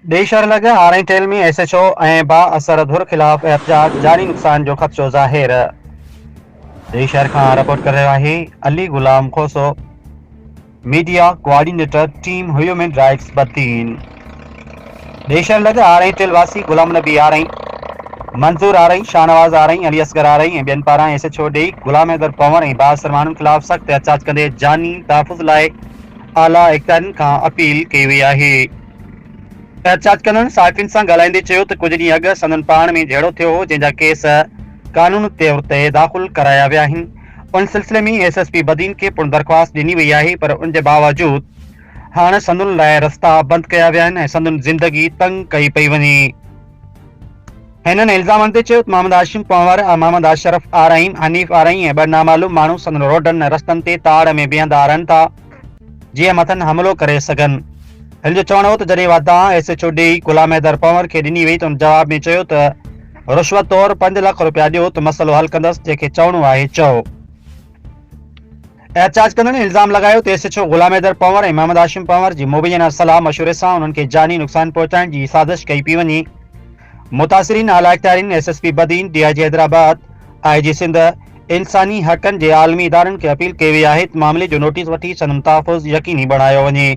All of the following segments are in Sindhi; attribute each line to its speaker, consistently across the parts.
Speaker 1: ٻئي شھر لڳ آرائين ٽيل ۾ ايس ايڇ او ۽ با اثر ڌر خلاف احتجاج جاري نقصان جو خدشو ظاهر ٻئي شھر کان رپورٽ ڪري رھيو آھي Ali Ghulam Khoso media coordinator team human rights Badin ٻئي شھر لڳ آرائين ٽيل واسي غلام نبي آرائين منظور آرائين شاھنواز آرائين علي اصغر آرائين ۽ ٻين پاران ايس ايڇ او ڏيئي غلام حيدر پنور ۽ با اثر ماڻھن خلاف سخت احتجاج ڪندي جاني تحفظ لاء اعليٰ اختيارين کان اپيل ڪئي وئي آھي احتجاج ڪندڙن صحافين سان ڳالهائيندي چيو ته ڪجهه ڏينهن اڳ سندن پاڻ ۾ جهيڙو ٿيو هو جنهن جا ڪيس قانون طور تي داخل ڪرايا ويا آهن ان سلسلي ۾ ايس ايس پي بدين کي پڻ درخواست ڏني وئي آهي پر ان جي باوجود هاڻ سندن لاء رستا بند ڪيا ويا آهن ۽ سندن زندگي تنگ ڪئي پئي وڃي هنن الزام آندي چيو ته محمد هاشم پنهور، محمد اشرف آرائين، حنيف آرائين ۽ ٻه نامعلوم ماڻهو سندن روڊن ۽ رستن تي تاڙ ۾ بيهندا رهن ٿا. جيئن مٿن حملو ڪري سگهن. هن جو چوڻ هو ته جڏهن واتان S H O D Ghulam Haider Panhwar کي ڏني وئي ته هن جواب ۾ چيو ته رشوت طور پنج لک روپيا ڏيو ته مسئلو حل ڪندس جنهن کي چوڻو آهي چئو. احتجاج ڪندڙن الزام لڳايو ته S H O Ghulam Haider Panhwar ۽ Muhammad Hashim Panhwar جي مبينا صلاح مشوري سان انهن کي جاني نقصان پهچائڻ جي سازش ڪئي پئي وڃي. متاثرين اعلياختيارين S S P Badin, D I G Hyderabad, I G Sindh, انساني حقن جي عالمي ادارن کي اپيل ڪئي وئي آهي ته معاملي جو نوٽيس وٺي سندن تحفظ يقيني بڻايو وڃي.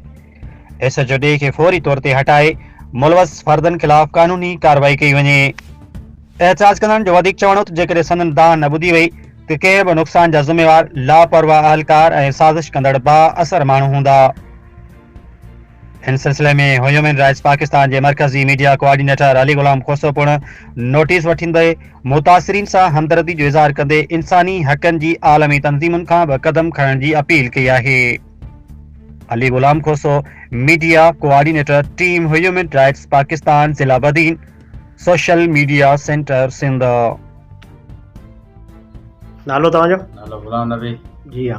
Speaker 1: ايس ايڇ او ڊي کي فوري طور تي هٽائي ملوث فردن خلاف قانوني ڪارروائي ڪئي وڃي. احتجاج ڪندڙن جو وڌيڪ چوڻ هو ته جيڪڏهن سندن دانهن نه ٻڌي وئي ته ڪنهن به نقصان جا ذميوار لاپرواهه اهلڪار ۽ سازش ڪندڙ با اثر ماڻهو هوندا. ان سلسلي ۾ هيومن رائٽس پاڪستان جي مرڪزي ميڊيا ڪوآرڊينيٽر علي غلام کوسو پڻ نوٽيس وٺيندي متاثرين سان همدردي جو اظهار ڪندي انساني حقن جي عالمي تنظيمن کان به قدم کڻڻ جي اپيل ڪئي آهي. Ali Ghulam Khoso media coordinator team human rights Pakistan ضلع Badin social media centre Sindh. نالو توهان جو؟ نالو غلام
Speaker 2: نبي.
Speaker 3: جي ها.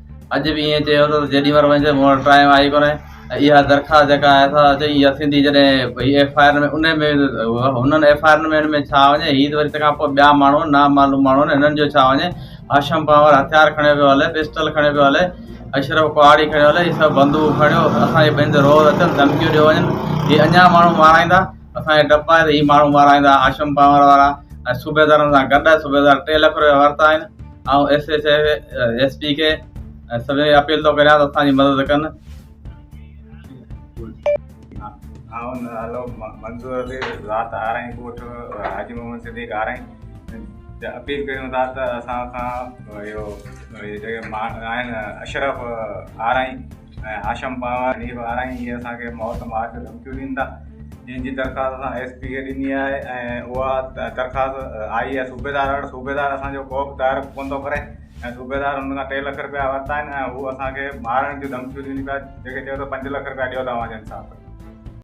Speaker 3: اڄ به ائين چيو اٿس جيڏي مھل وڃيس مون وٽ ٽائيم آھي ڪونھي ۽ اھا درخواست جيڪا آھي سا چئي اھا سنڌي جڏھن ڀئي ايف آء آر ۾ ان ۾ ھنن ايف آء آرن ۾ ان ۾ ڇا وڃي ھي ته وري تنھن کان پوء ٻيا ماڻھو نا معلوم ماڻھو آھن ھنن جو ڇا وڃي ھاشم پنھور ھٿيار کڻيو پيو ھلي پسٽل کڻيو پيو ھلي اشرف ڪهاڙي کڻيو ھلي ھي سڀ بندوق کڻيو اسان جي ٻنھين تي روز اچن ڌمڪيون ڏيو وڃن ھي اڃان ماڻھو مارائيندا اسان کي ڊپ آھي ته ھي ماڻھو مارائيندا ھاشم پنھور وارا ۽ صوبيدارن سان گڏ صوبيدار ٽي لک روپيا ورتا آھن آئون ايس ايس ايس پي کي ۽ سڀني کي اپيل ٿو ڪريان ته اسان جي مدد ڪن
Speaker 4: آئون نالو منظور علي ذات آرائين ڳوٺ حاجي محمد صديق آرائين اپيل ڪريون ٿا ته اسان سان اهو جيڪي آهن اشرف آرائين ۽ هاشم پاوا حنيف آرائين اهي اسان کي موت مار جون ڌمڪيون ڏين ٿا جنهن جي درخواست اسان ايس پي کي ڏني آهي ۽ اها درخواست آئي آهي صوبيدار وٽ صوبيدار اسان جو ڪو به تعارف ڪونه ٿو ڪري ۽ صوبيدار هن کان ٽي لک رپيا ورتا آهن ۽ هو اسان کي مارڻ جون ڌمڪيون ڏين پيا جيڪي چئي ٿو پنج لک رپيا ڏيو ته اوهان جو انصاف ڪندو